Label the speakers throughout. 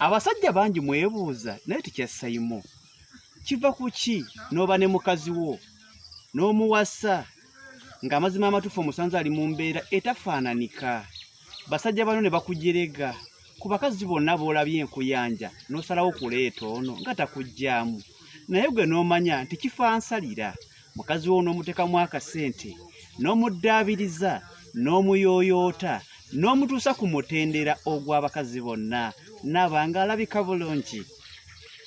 Speaker 1: abasajja bangi mwebuuza naye tekyassayimu kiva ku ki n'oba ne mukazi wo n'omuwasa ng'amazima amatuufu omusanze ali mu mbeera etafaananika basajja bano ne bakujerega ku bakazi bonna b'olabye enkuyanja n'osalawo okuleeta ono nga takugyamu naye gwe n'omanya nti kifansalira mukazi wo onoomutekamu akasente n'omuddaabiriza n'omuyooyoota n'omutuusa ku mutendera ogw'abakazi bonna naaba nga alabika bulungi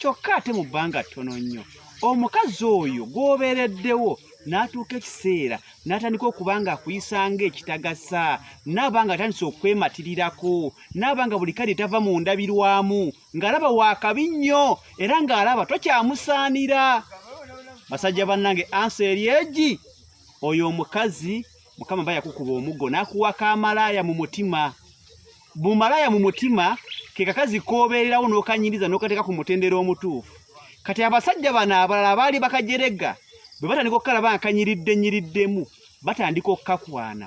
Speaker 1: kyokka ate mu bbanga ttono nnyo omukazi oyo gw'obeereddewo n'atuuka ekiseera n'atandika okuba nga akuyisanga ekitagasa naaba nga atandise okwematirirakwo naaba nga buli kale tava mu ndabirwamu ng'alaba waakabi nnyo era ng'alaba tokyamusaanira basajja bannange ansa eri egi oyo omukazi mukama ba yakukuba omuggo n'akuwaka amalaaya mu mutima bumalaaya mu mutima ke kakazi k'obeererawo n'okanyiriza n'okateeka ku mutendera omutuufu kati abasajja bano abalala abaali bakajerega bwe batandika okukalaba nga kanyiridde nyiriddemu batandika okukakwana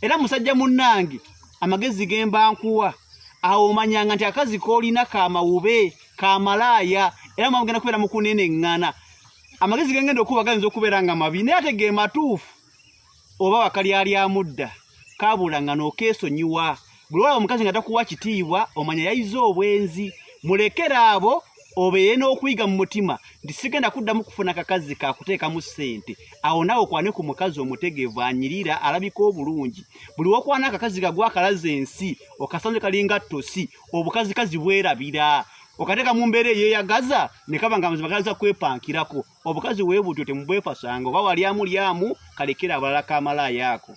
Speaker 1: era musajja munnange amagezi ge mbankuwa awo omanyanga nti akazi koolina ka mawube ka malaaya era mwamugenda kubeera mu kuneneŋŋana amagezi ge ngenda okuba gayinza okubeera nga mabi naye ate ge matuufu oba wakalyalyamu dda kaabula nga nookeesonyiwa bwewaba omukazi nga takuwa kitiibwa omanya yayize obwenzi mulekere abo obeeye n'okuyiga mu mutima nti sigenda kuddamu kufuna kakazi kakuteekamu ssente awo naawe okwane ku mukazi omutegeevu anyirira alabika obulungi buli wokwana akakazi kagwa akalaza ensi okasanze kalinga ttosi obukazikazi bwerabira okateka mumbere ye yagaza nekaba nga mzima gaza kwepa nkirako obukazi webu tyote mbwefa sango bawa lyamu lyamu kalekera abalaka amala yako